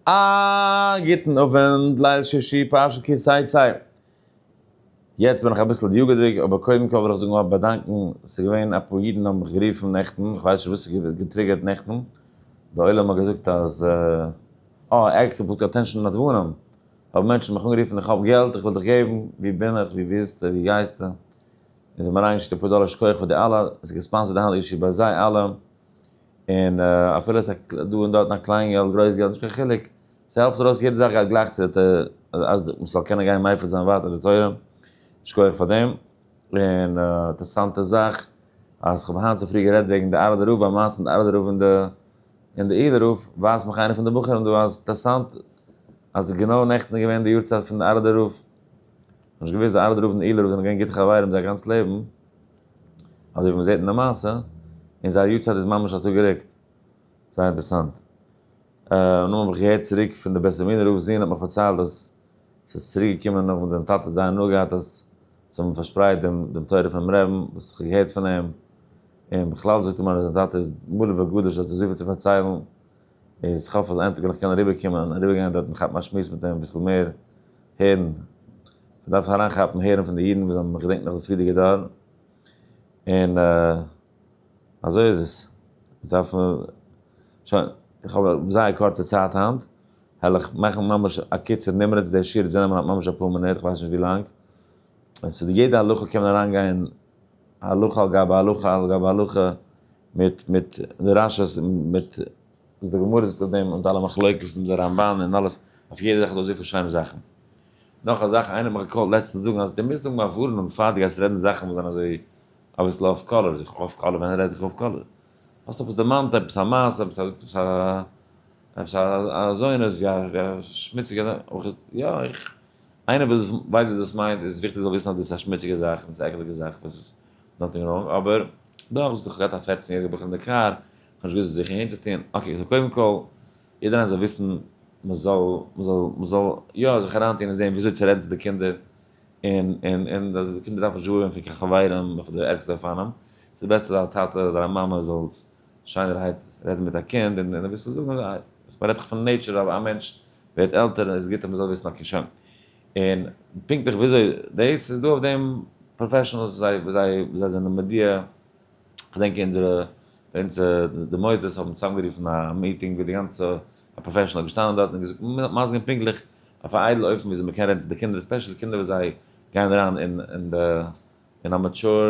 א גוטן אווענט, ליל שישי פרשת כי תצא. יעצט בין איך אביסל דיוגה'דיג, אבער קודם כל וויל איך זאגן א באדאנקן, ס'איז געווען אפאר אידן האבן מיך גערופן נעכטן, כ'ווייס נישט וואס ס'איז געטריגערט נעכטן, די עולם האט געזאגט אז אה ער עקספעקט פונקט אטענשאן נדבנים, האבן מענטשן מיך אנגערופן איך האב געלט איך וויל דיך געבן, ווי בין איך, ווי ביזטו, ווי גייסטו, און זיי האבן אריינגעשיקט אפאר דאלער שכוח פאר די אלע, ס'איז געספאנסערט די היינטיגע שיעור ביי זיי אלע, און אפילו עס איז דא און דארטן א קליין געלט גרויס געלט נישט קיין חילוק, ס'העלפט ארויס יעדע זאך גייט גלייך צו די תורה אז מען זאל קענען גיין מפיץ זיין ווייטער די תורה, שכוח פאר דעם. און א אינטערעסאנטע זאך אז כ'האב היינט צופרי גערעדט וועגן די ארעדע רב, א מעשה מיט די ארעדע רב און די און די איעלע רב, ווייזט מיך איינער פון די בחורים דא אז אינטערעסאנט אז גענוי נעכטן איז געווען די יארצייט פון די ארעדע רב, נישט געוואוסט די ארעדע רב און די איעלע רב זענען געווען גוטע חברים זייער גאנץ לעבן. אזוי ווי מען זעט אין די מעשה, און זייער יארצייט איז ממש א טאג גערוקט. זייער אינטערעסאנט. און נאך האב איך געהערט צוריק פון די בית עלמינא רב ז ל האט מיך פארציילט אז ס'איז צוריק געקומען נאך וואס דעם טאטע האט זייער הנאה געהאט אז זיי האבן פארשפרייט דעם דעם תורה פונעם רעבן וואס איך האב געהערט פון אים, און בכלל זאגט ער מיר אז זיין טאטע איז מלא וגדוש ער האט אזויפיל צו פארציילן. און איך האף אז איין טאג וועל איך קענען אריבער קומען און אריבער גיין דארט און כאפן א שמועס מיט אים אביסל מער הערן איך דארף אריין כאפן הערן פון די אידן וואס זענען געדענק נאך די פריערדיגע דור און אזוי איז עס עס דארף שוין איך האב זייער קורצע צייט היינט העל איך מאכן ממש א קיצור נמרץ די שיעור האט זיי נעמען ממש אפאר מינוט איך ווייס נישט ווי לאנג עס איז יעדע הלכה קען מען אריין גיין הלכה על גבי הלכה על גבי הלכה, מיט מיט דרשות מיט וואס די גמרא זאגט אויף דעם און אלע מחלוקת און די רמבן און אלעס, אויף יעדע זאך איז דא אזויפיל שיינע זאכן. נאך א זאך, איינער האט מיך געקאלט לעצטנס זאגן אז די מוזט זאגן א ווארענונג פאר די גייסט רעדן זאכן וואס זענען אזוי אביסל אף קאלער, זאג איך אף קאלער? ווען רעד איך אף קאלער? האסט עפעס דערמאנט עפעס א מעשה, עפעס א זאגט עפעס א עפעס א אזוינס ווי א שמוציגע, יא איך איינער וואס ווייסט וואס דאס מיינט איז וויכטיג זאל וויסן אז דאס איז א שמוציגע זאך און עס איז א עקעליגע זאך וואס איז נאטינג ראנג אבער דאך וואס האט דאך געהאט א פֿערצן יעריגע בחור אין די קאר איך האב נישט געוואוסט וואס זיך אהן צו טון אקעי סאו קודם כל יעדער איינער זאל וויסן מען זאל מען זאל מען זאל יא זיך אריין טון און זען וויאזוי צו רעדן צו די קינדער און און און אז די קינדער דארפן נישט ווארעווען פון קיין חברים נאך די ערגסטע אופנים ס'איז בעסער אז א טאטע אדער א מאמע זאל שיינערהייט רעדן מיט א קינד און און אביסל זאגן אז עס מען רעדט דאך פון נעיטשער אז א מענטש ווערט עלטער איז גוט אז מ'זאל וויסן אויף קיין שם און פונקטליך וויאזוי דאס איז דא אויף דעם פראפעשענעלס וואס זיי וואס זיי וואס זיי זענען מודיע, כ'דענק אונזערע ביי אונז די מוסדות האבן צוזאמגערופן א מיטינג ווי די גאנצע א פראפעשענעל איז געשטאנען דארט און געזאגט מ'זאל מסביר פונקטליך אויף א איידל אופן וויאזוי מ'קען רעדן צו די קינדער עספעשעלי קינדער וואס זיי גייען אריין אין אין די אין א מעטשור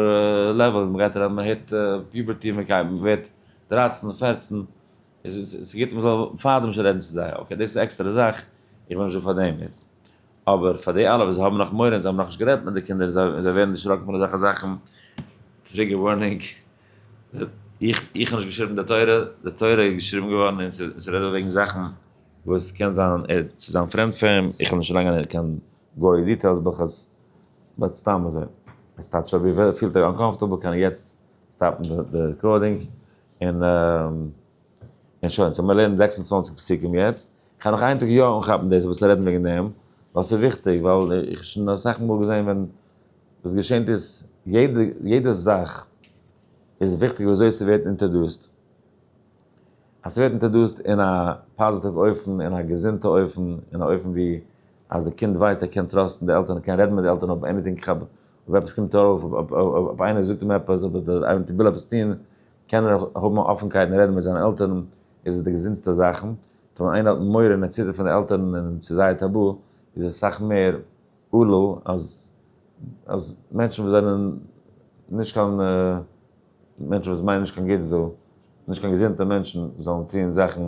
לעוועל מ'גייט אריין מ'הערט פיובערטי מ'גייט מ'ווערט דרייצן פֿערצן. ס'איז גוט מען זאל פארדעם נישט רעדן צו זיי, אקעי דאס איז עקסטערע זאך, איך בין נישט דא פאר דעם יעצט, אבער פאר די אלע וואס האבן נאך מורא און זיי האבן נאכנישט גערעדט מיט די קינדער און זיי ווערן דערשראקן פון אזעלכע זאכן, טריגער ווארנינג, איך האב נישט געשריבן די תורה, די תורה איז געשריבן געווארן און ס'רעדט דא וועגן זאכן וואס קען זיין צו זיין פרעמד פאר אים, איך וויל נישט אריין גיין אין קיין גארי דיטעילס ברכות, באט סתם אזוי, עס טייטש אויב איר פילט אונקאמפארטעבל קען איך יעצט סטאפן די רעקארדינג, און און שוין, סאו מיר לערנען זעקס און צוואַנציק פסוקים יעצט, כ'על נאך איין טאג יא אנכאפן דאס אביסל רעדן וועגן דעם, ווייל ס'איז וויכטיג, ווייל איך האב שוין אסאך מאל געזען ווען וואס געשענט איז, יעדע יעדע זאך איז וויכטיג ווי אזוי ס'ווערט אינטערדוסט, אז ס'ווערט אינטערדוסט אין א פאזיטיוו אופן, אין א געזונטע אופן, אין א אופן ווי אז די קינד ווייסט ער קען טראסטן די עלטערן, ער קען רעדן מיט די עלטערן אויב עניטינג כ'האב אויב עפעס קומט אויף, אויב איינער זאגט אים עפעס, אויב דער אייוועלט וויל עפעס טון, קען ער האבן א אפנקייט און רעדן מיט זיינע עלטערן, איז עס די געזונטסטע זאכן, און ווען איינער האט מורא און ער ציטערט פון די עלטערן און ס'איז זייער טאבו, איז עס סאך מער עלול אז אז מענטשן וואס זענען נישט קיין מענטשן וואס מיינען נישט קיין גוטס דא, נישט קיין געזונטע מענטשן, זאלן טון זאכן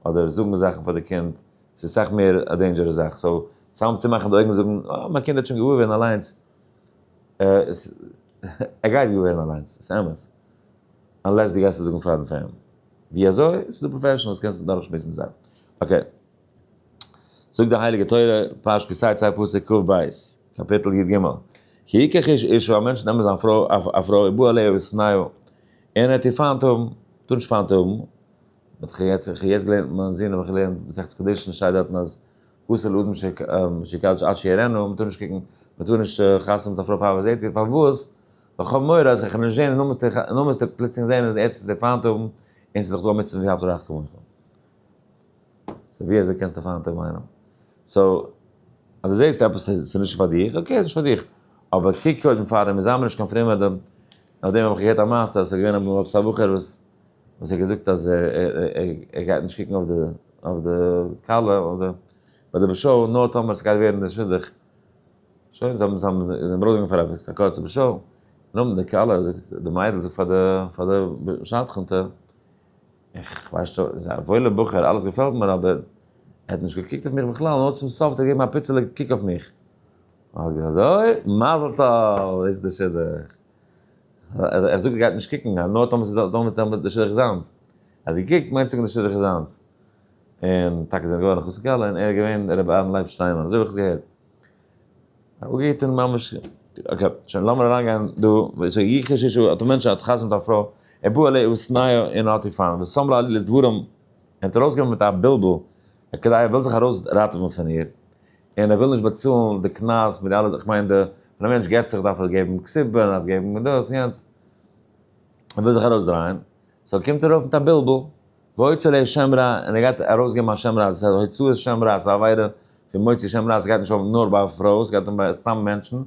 אדער זאגן זאכן פאר די קינד, ס'איז סאך מער א דעינדזשערעס זאך, סאו צאם צומאכן די אויגן זאגן אה מיין קינד האט שוין געוואר ווערן אליינס, ער גייט געוואר ווערן אליינס, ס'איז אמת, אנלעס דו גייסט עס זאגן פארן פאר אים, ווי אזוי? ס'איז דא פראפעשענעלס קענסט עס דורכשמועסן מיט זיי, אקעי. זאגט די הייליגע תורה, פרשת כי תצא פסוק כ ב, קאפיטל י ג, כי יקח איש אשתו א מענטש נעמען זיין פרוי, א פרוי, בא עליה ושנאה, און ער וועט איר פיינט האבן, טאר נישט פיינט האבן, מיט כ' יצ ח איך האב יעצט געלערנט מיט מיין זון האב איך געלערנט מסכת קדושין שטייט דארטן אז אסור לאדם שיקדש עד שיראנו מ'טאר נישט קוקן מ'טאר נישט חתונה מיט א פרוי פאר וואס זעט איר פארוואס ווייל כ'האב מורא אז כ'עך נישט זען און נאר מ'עסט ער פלוצלינג זען אז ער עטס עס דער פיינט האבן און ס'איז דאך דא עמיצן ואהבת לרעך כמוך סאו ווי אזוי קענסטו פיינט האבן איינעם סאו אז דו זעסט עפעס ס'איז נישט פאר דיך אקעי ס'איז נישט פאר דיך אבער קוק קודם פאר אים און זיי מיר נישט קיין פרעמעדע נאכדעם האב איך געהערט א מעשה אז ס'איז געווען א ב מ עפעס א בחור וואס וואס ער האט געזאגט אז ער גייט נישט קוקן אויף די כלה אדער ביי די באשאו נאר טאמער סגייט ווערן די שידוך שוין זיי האבן זיי זענען ברויגן פאר עפעס א קורצע באשאו נאמט די כלה זאגט די מיידל זאגט פאר די פאר די שדכנטע איך ווייס שוין איז א וואוילע בחור אלעס געפעלט מיר אבער ער האט נישט געקוקט אויף מיך בכלל נאר צום סוף האט ער געגעבן א פיצעלע קוק אויף מיך אזוי מזל טוב איז די שידוך. ער זאגט ער גייט נישט קוקן אז נאר טאמער ס'איז דא מיט די שלעכט זיינס. ער האט געקוקט מיינט ס'געווען די שלעכט זיינס. און טאקע זענען געווארן אחוץ כלה און ער איז געווען ר' אהרן לייב שטיינמאן אזוי האב איך עס געהערט. אפגעהיטען ממש. אקעי שוין לאמיר אריינגיין דא וואס י ח ששו האט א מענטש האט חתונה א פרוי ער בא עליה ובשנאה און האט איר פארן ושם לה עלילת דברים און האט ארויסגעווען מיט א בלבול כדי ער וויל זיך ארויס ראטעווען פון איר. און ער וויל נישט באצאלן די קנס מיט די אלע, איך מיין די, ווען א מענטש גט זיך דארף ער געבן כסובה, ער דארף געבן דאס און יענץ, ער וויל זיך ארויסדרייען, סאו קומט ער אויף מיט א בלבול, והוצא ליה שם רע, און ער גייט ארויסגעבן א שם רע, דאס איז הוצאת שם רע, ס'איז א עבירה פון מוציא שם רע, ס'גייט נישט אן נאר ביי פרויען, ס'גייט אן ביי סתם מענטשן,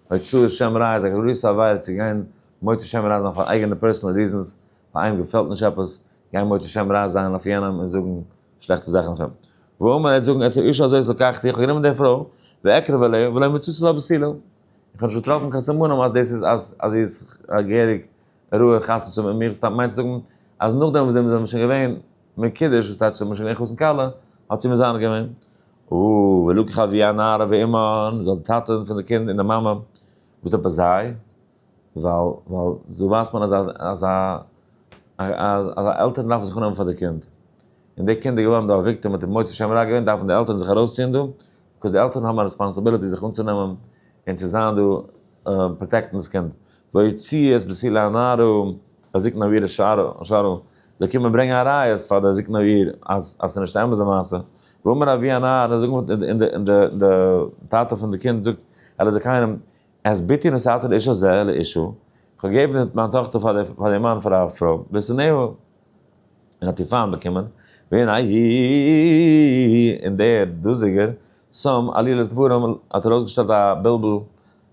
הוצאת שם רע איז א גרויסע עבירה צו גיין מוציא שם רע זיין פאר אייגענע פערסענעל ריזענס, פאר איינעם געפעלט נישט עפעס, גיין מוציא שם רע זיין אויף יענעם און זאגן שלעכטע זאכן אויף אים. והוא אומר, ער וועט זאגן, עס איש אזוי אזוי לקחתי, איך האב גענומען די פרוי, ואקרב אליה, ולא מצאתי לה בסילה. איך האב נישט געטראפן קיין סימנים אז דאס איז אז אז זי איז א געהעריג ראויע חתן צו מיט מיר, סתם מיינט צו זאגן אז נאכדעם וואס זענען מיר שוין געווען מקודש, וואס טייטש זענען מיר שוין געווען חתן כלה, האט זי מזנה געווען. והוא, ולקחה אביה נערה ואמה, און זי האט די טאטע פון די קינד און די מאמע, וואס עפעס זיי? ווייל ווייל זוי ווייסט מען אז א אז א אז אז א עלטערן דארפן זיך אנהייבן פאר די קינד, און די קינד איז געווארן דא א וויקטעם און האט מוצא שם רע געווען, דארפן די עלטערן זיך ארויסציען דא, ביקאוז די עלטערן האבן א רעספאנסעבילעטי זיך אנצונעמען און צו זיין דא פראטעקטן דאס קינד, ויוציא את בסיל הנערה בזקנה אבירה שרה, זיי קומען ברענגען א ראיות פאר די זקנה אביר אז אז ס'איז נישט אמת די מעשה, ואומר אבי הנער און די טאטע פון די קינד זאגט ער איז זכאי און אז ביתי נשאתי לאישה זה אל אישו, איך האב געגעבן מיין טאכטער פאר דעם מאן פאר א פרוי, ושנאהו, און האט איר פיינט באקומען, והנה איה, און דער דאזיגער שם עלילת דברים, האט ארויסגעשטעלט א בלבול,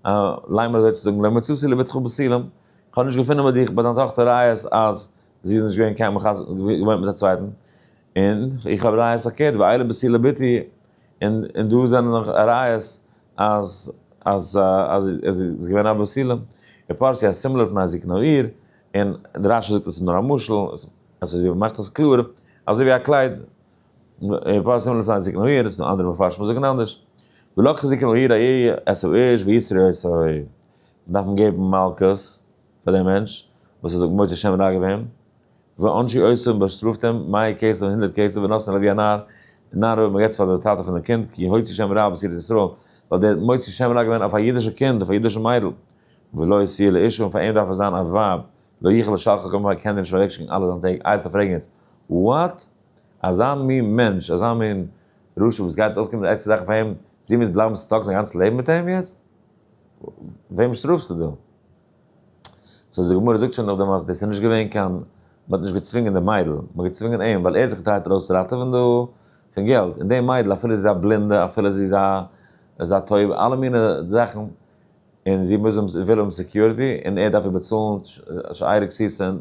א ליימער אזוי צו זאגן, לא מצאתי לביתך בסילה, איך האב נישט געפונען ביי דיך, ביי דיין טאכטער ראיות אז זי איז נישט געווען קיינמאל געווען מיט א צווייטן, און איך האב ראיות פארקערט, ואילה בסילה ביתי, און און דא זענען נאך ראיות אז אז אז עס איז געווען א בסילה, און פרסי א סימלער פון א זקנו עיר, און דער רשי זאגט עס איז נאר א משל, עס איז ווי מען מאכט עס קלאר, אזוי ווי א קלייד, און פרסי סימלער פון א זקנו עיר, עס נאר אנדערע מפרשים וואס זאגן אנדערש, ולקח זקנו עיר א י עשו איש ויסרו עשו, דארף מען געבן מלקות. פאר דעם מענטש וואס האט זיך מוצא שם רע געווען, ועונשי עושו און באשטראפט אים מאה כסף און הונדערט כסף ונתן עליו ווי א נאר, און נאר אויב מען געבט עס פאר די טאטע פון דעם קינד כי הוציא שם רע בעשירות ישראל, ווייל דער האט מוציא שם רע געווען אויף א אידישע קינד אויף א אידישע מיידל, ולא השיא לאשתו און פאר אים דארף עס זיין א ווייב, לא יוכל לשלחה כלומר ער קען איר נישט אוועק שיקן אלע זיינע טעג, איי עסט א פרעגן יעצט וואט? אזא מין מענטש אזא מין רשע וואס גייט אויפקומען מיט עקסטער זאכן פאר אים, זי מוז בלייבן סטאק זיין גאנץ לעבן מיט אים יעצט? וועם שטראפסטו דא? סאו די גמרא זאגט שוין נאך דעם אז דאס איז נישט געווען קיין, מען האט נישט געצווינגען די מיידל, מען האט געצווינגען אים ווייל ער האט זיך געטרייט ארויסראטעווען דא פון געלט, און די מיידל אפילו זי איז א בלינדע אפילו זי איז א איז א טויבע אלע מינע זאכן, און זי מוז האבן וויל האבן סעקיוריטי און ער דארף איר באצאלן שערי כסיסה און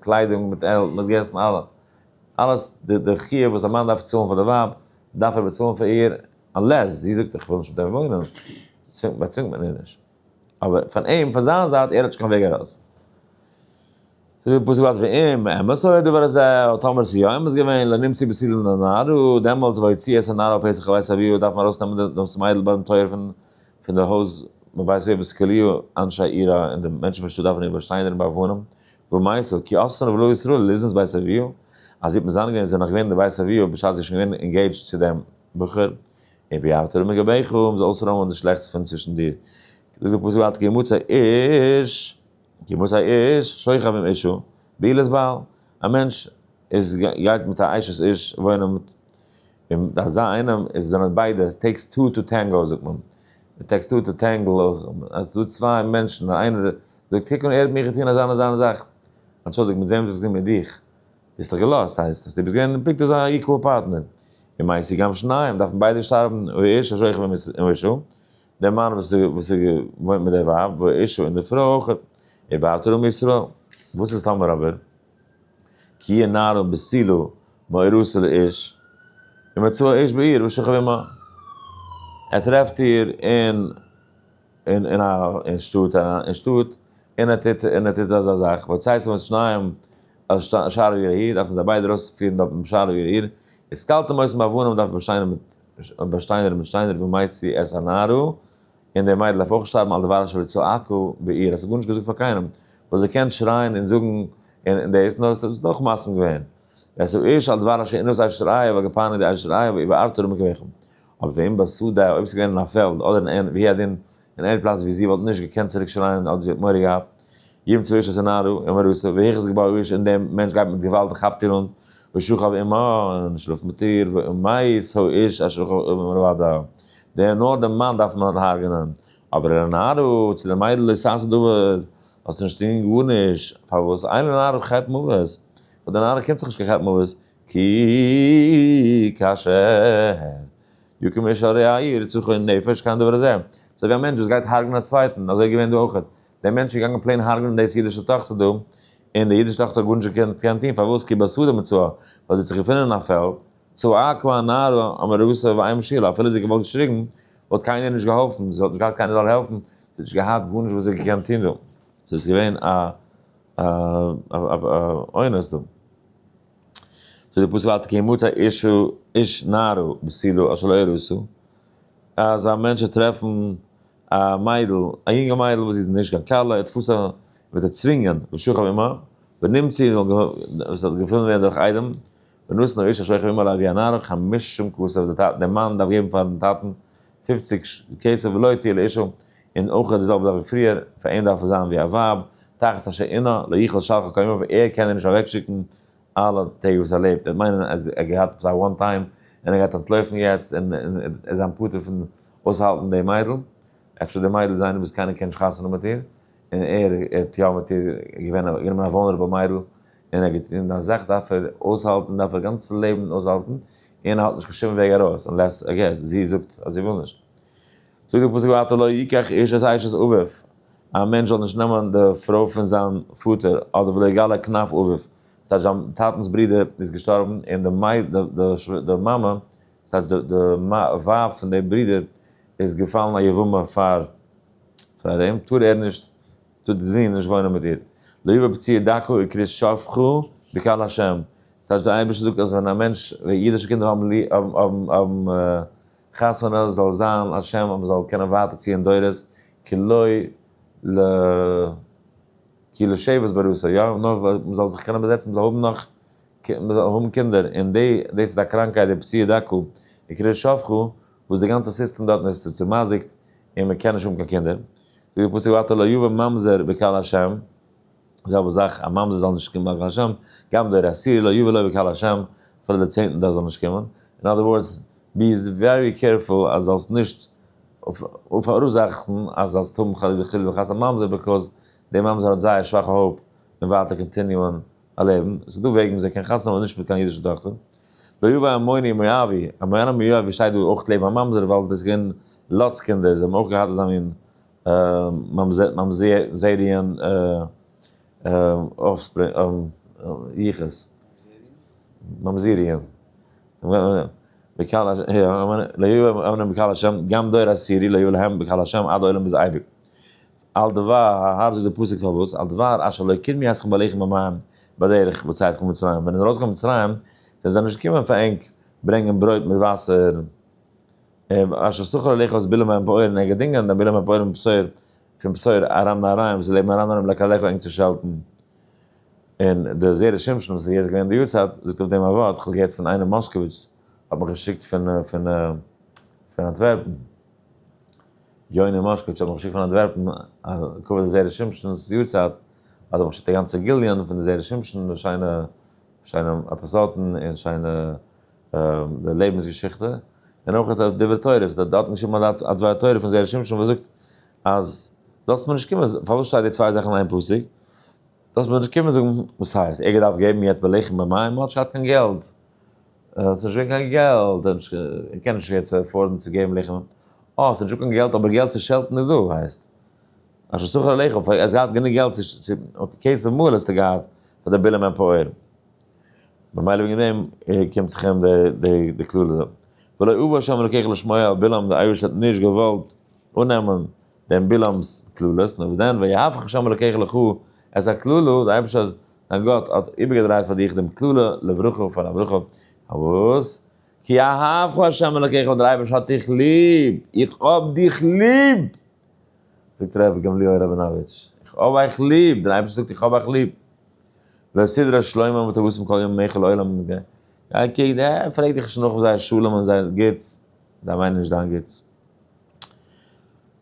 קליידונג מיט מיט געסן אלע אלעס די חיוב וואס א מאן דארף צאלן פאר די ווייב דארף ער באצאלן פאר איר, אנלעס זי זאגט איך וויל נישט מיט אים וואוינען, צווינגט מען איר נישט. אבער פון אים, פון זיין זייט, ער האט נישט קיין וועג ארויס. ס'איז ווי פסוק בת ואם אמת הוא הדבר הזה, און טאמער ס'איז יא אמת געווען, לא נמציא בסילין הנער הוא, דעמאלטס ביי יציאת הנער על פסח לבית אביו דארף מען ארויסנעמען דאס מיידל ביים טויער פון די הויז בבית אביו וואס כליו אנשי העיר אין די מענטשן פון שטאט דארפן איר באשטיין דערין ביי וואונען ומאיסור כי אסרן ולא איסרו ליזנס בית אביו, אז זי האט מזנה געווען זי איז נאך געווען אין די בית אביו בשעת זי איז שוין געווען אינגעידזשד צו דעם בחור, אין ביערת ארמון גביך האבן זיי אויסער ארמון די שלעכטס פון צווישן דיר, זאגט דער פסוק אל תקי מוצא איש, כי מוצא איש שוכב עם אשתו בעילת בעל, א מענטש איז גייט מיט א אשת איש וואוינען מיט און ביי אזא איינעם איז ווען האט ביידע, איט טעיקס טו טו טענגאו זאגט מען, איט טעיקס טו טו טענגל אויך, אז ס'איז דא צוויי מענטשן און איינער זאגט קוק אן ער האט מיר געטון אזא און אזא און אזא, אנטשולדיגט מיט וועם האט ער עס געטון מיט דיך? ביסט דאך געלאזט הייסט אז דו ביסט געווען פונקט אזא איקוועל פארטנער, און מעשי גם שניים דארפן ביידע שטארבן ואיש אשר יחיה עם אשתו, דער מאן וואס וואס וואוינט מיט דער ווייב ואשתו און די פרוי אויך, ובאת אל עם ישראל, וואס איז טאמער אבער. כי יהיה נער און בסילו מאורו של איש, ימצאו האיש בעיר ושוכב עמה. ער טרעפט איר אין אין א אין שטאט אריין אין שטאט, און ער טוט און ער טוט אזא זאך, ויוצא עשו את שניהם אל שער העיר ההיא, דארפן זיי ביידע ארויספירן דארט ביים שער העיר ההיא, איז קלתם אויס עם אבנים דארף באשטיינער מיט באשטיינער מיט שטיינער ומאיסי את הנער הוא, און די מיידל דארף אויך שטארבן על דבר שלא צעקו בעיר, אז ס'איז גארנישט געזאגט פאר קיינעם, וואס זי קען שרייען און זאגן און דאס, נאר ס'איז אויך מסכים געווען, ועשו איש על דבר אשר אין עושה אשת רעיו א געפאר נגד אשת רעיו ואיבה ארתור ומקוויכם, אבער ואם בשדה אויב ס'איז געווען אין א פעלד אדער אין אין והיא הדין אין עני פלאץ ווי זי וואלט נישט געקענט צוריק שרייען אדער זי האט מורא געהאט ימ צו איש עשה נערו עם ארוסו והיכי זה געבאו איש און די מענטש גייט מיט געוואלד און כאפט איר אן ושכב עמה און שלאפט מיט איר ואם מת האו איש אשר כאב עם רעיו עד ווער נאר דעם מאן דארף מען האט הרג'נען, אבער אילן נרו צו די מיידל איז סאסא דבר, האסט נישט טוהן גארנישט, פארוואס אילן נרו חטא מוות, ביי די נרו קומט זיך נישט קיין חטא מוות, כי כאשר יקום איש על רעיו ירצחו נפש קיין דבר הזה, אזוי ווי א מענטש וואס גייט הרג'נען א צווייטן, אזוי איז געווען דא אויכעט, דער מענטש איז געגאנגען פלעין הרג'נען דאס אידישע טאכטער דא, און די אידישע טאכטער האט גארנישט געקענט טוהן, פארוואס כי בסוד המצוה, ווייל זי האט זיך געפונען אין א פעלד, צעק ווי א נאר, האמער רוסע ווי איין משוגע, אפילו זי האט געוואלט געשריגן, וואלט קיינער איר נישט געהאלפן, זי האט נישט געהאט קיינער זאל העלפן, זי האט נישט געהאט גארנישט וואס זי האט געקענט טון דא, זי איז געווען א אונס דא. זאגט דער פסוק אל תקי מות האיש איש נערה בסילו אשר לא ירוסו, אז א מענטש וועט טרעפן א מיידל, א יונגע מיידל וואס זי איז נישט קיין כלה, ער תפסה און וועט ער צווינגען, ושוכב עמה, ונמציא, וואס ער האט געפונען ווערן דורך איידעם, ונתן האיש אשר חלום עליו ווי א נער חמש שום כסף די טאטן די מאן דארף געבן פארן טאטן פֿופֿציק כסף ולא תהיה לאשתו און אויך די זעלבע זאך ווי פריער פאר אים דארף עס זיין ווי א ווייב תחת אשר עינה לא יכלו שלחה כל ימיו ער קען איר נישט אוועק שיקן אלע טעג וואס ער לעבט דאס מיינען ער האט געהאט עפעס א וואן טיים און ער גייט אנטלויפן יעצט און ער איז זיין פטור פון אויסהאלטן די מיידל אפשר די מיידל איז איינער וואס קיינער קען נישט חתונה מיט איר און ער האט יא מיט איר געווען א גענומען א וואלנערעבל מיידל, און ער געטון דיין זאך דארף ער אויסהאלטן דארף ער גאנץ לעבן אויסהאלטן, און ער האט נישט קיין שום וועג ארויס אנלעס איי געס זי זאגט אז זי וויל נישט. זאגט דער פסוק ווייטער לא יקח איש את אשת אביו, א מענטש זאל נישט נעמען די פרוי פון זיין פאטער, אדער ולא יגלה כנף אביו, ס'הייסט זיין טאטנ'ס ברודער איז געשטארבן און די מייד די מאמע, ס'הייסט די ווייב פון די ברודער איז געפאלן א יבמה פאר. פאר דעם טאר ער נישט, טאר די זון נישט וואוינען מיט איר. לא יבא פציעי דקה וקרית שפחה בקהל השם, ס'טייטש די אייבערשטער זאגט אז ווען א מענטש, ווען אידישע קינדער האבן האבן חתונה זאל זיין על שם אז מען זאל קענען ווייטער ציען דורות, כי לא ל כי לא שבעת בראשו, יא, נאר מען זאל זיך קענען באזעצן, מען זאל האבן נאך, מען זאל האבן קינדער, און דאס איז א קראנקייט די פציעי דקה וקרית שפחה, וואס די גאנצע סיסטעם דארטן איז צוצימאזיקט און מען קען נישט האבן קיין קינדער, זאגט די פסוק ואתה לא יבא ממזר בקהל השם, די זעלבע זאך א ממזר זאל נישט קומען ביי קהל השם, גם דער עשירי לא יבא לו בקהל השם, אפילו דער צענטער דארף זאל נישט קומען, אין אדער ווארדס, בי ווערי קערפול אז זאלסט נישט פאראורזאכן אז זאלסט האבן חלילה חלילה וחס א ממזר, ביקאוז דער ממזר האט זייער שוואכע האופ אין ווייטער קאנטיניוען א לעבן, עס איז דא וועגן וויאזוי מען קען חתונה האבן נישט מיט קיין אידישע טאכטער, לא יבא המוני מואבי, א מוני מואבי שטייט דא אויך לעבן א ממזר ווייל דאס איז געווען לאט'ס קינדער, זיי האבן אויך געהאט אזא מין ממזריאן יחוס, ממזריאן, לא יבא המוני בקהל ה', גם דור עשירי לא יבא להם בקהל ה' עד עולם ביז אייביג. על דבר ההר זאגט די פסוק פארוואס על דבר אשר לא קדמי אתכם אליכם במים בדרך בצאת אתכם ממצרים ווען איר זענט ארויס געקומען פון מצרים זענען זיי נישט געקומען פאר ענק ברענגען ברויט מיט וואסער אשר סכל אליך את בלע מים פעורים ער האט געדינגען דיין בלע מים פעורים בשור פון בשור ארם נהריים וואס איז לעבן ארם נהריים לקח אליך ענק צו שעלטן און די זרע שמשון וואס איז יעצט געווען אין די יארצייט זאגט אויף דעם א ווארט כ'האב געהערט פון איינעם מאשקאוויטש האט מיך געשיקט פון פון פון אנטווערפן. יונה מאשקאוויטש האט מיך געשיקט פון אנטווערפן א קאווע די זערא שמשונ'ס יארצייט, האט ער מיך געשיקט א גאנצע גיליון פון די זערא שמשון, די שיינע שיינע עפיזאדן און שיינע די לעבנס געשיכטע, און אויך די דברי תורה, ער האט דארטן געשריבן א דבר תורה פון זערא שמשון וואס זאגט אז זאלסט מיר נישט קומען, פארוואס שטייט די צוויי זאכן אין איין פסוק? דאס מוז נישט קומען זאגן וואס הייסט ער געדארפט געבן יעצט בלחם במים און מ'האט נישט געהאט קיין געלט, ס'איז נישט געווען קיין געלט, ער קען נישט יעצט עפארדן צו געבן לחם, אה ס'איז נישטא קיין געלט אבער געלט צו שעלטן איז דא הייסט אשר שכר עליך, פאר ער האט געהאט גענוג געלט צו אויף כסף מלא האסטו געהאט פאר די בילען מענפאוער, ממילא וועגן דעם קומט זיך אים די קללה, ולא אבא שם אלוקיך לשמוע אל בלעם די אייבערשטער האט נישט געוואלט אננעמען דעם בלעם'ס קללות, נאר ווי דען ויהפך השם אלוקיך לך את הקללה, דער אייבערשטער האט, דיין גאט, האט איבערגעדרייט פאר דיך דעם קללה לברכה פאר א ברכה, פארוואס? כי אהבך השם אלוקיך ווייל דער אייבערשטער האט דיך ליב, איך האב דיך ליב! זאגט ר' גמליאל ראבינאוויטש, איך האב אייך ליב, דער אייבערשטער זאגט איך האב אייך ליב, לא סדרה שלמה ותבוסם כל יום מיכל עולם, גיי קוק, פרעג דיך נישט נאך זייער שלום און זייער גוטס, זיי מיינען נישט דיין גוטס.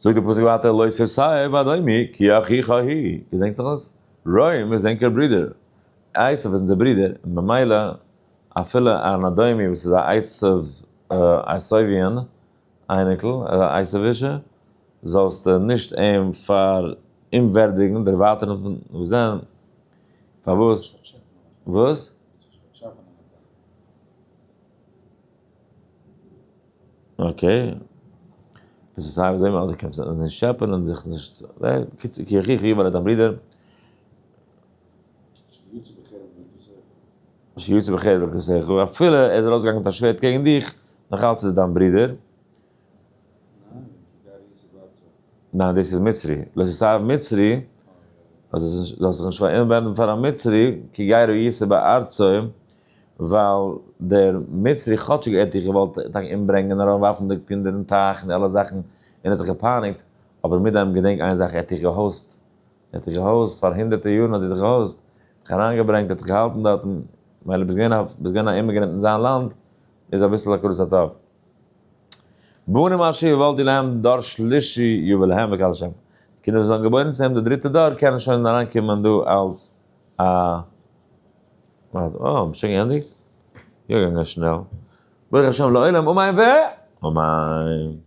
זאגט דער פסוק ווייטער לא ששי ואדומי כי אחיך היא, געדענקסט נאך דאס? רוים איז ענקער ברודער, עשיו איז אונזער ברודער, און במילא אפילו אן אדומי וואס איז א עשיו, עשיוויען, אייניקל, א עשיווישע, זאלסטו נישט אים פאר אומווערדיגן, דערווייטערן פון וואס דען? פארוואס? וואס? אקעי, עס איז סיי ווי אזוי קענסט נישט טשעפען און זיך נישט, בקיצור קה יחיך יאמר דיין ברודער, שיצא בחיל וקלסך, אפילו ער איז ארויסגעגאנגען מיט א שווערד קעגן דיך, נאך אלץ איז דיין ברודער, ניין דאס איז מצרי, לא תסב מצרי, זאלסט זיך נישט פאראיינען ווערן פאר א מצרי, כי גר הוא יצא בארצו ווייל דער מצרי כאטשיג ער האט דיך געוואלט טאקע אומברענגען און אריין ווארפן די קינדער אין טייך און אלע זאכן און ער האט דיך געפייניגט, אבער מיט דעם געדענק איין זאך ער האט דיך געהאסט, ער האט דיך געהאסט פאר הונדערטער יארן האט ער דיך געהאסט, דיך אריין געברענגט ער האט דיך געהאלטן דארטן, מילא ביסט געווען ביסט געווען א אימעגרענט אין זיין לאנד איז אביסל הכרת הטוב. בנים אשר יוולד להם דור שלישי יובל להם בקהל השם, די קינדער וואס וועלן געבוירן צו אים די דריטע דור קענען שוין אריין קומען דא אלס א. אז אה, מ'האט שוין געענדיגט? יא געגאנגען שנעל. ברוך השם לעולם אמן ואמן!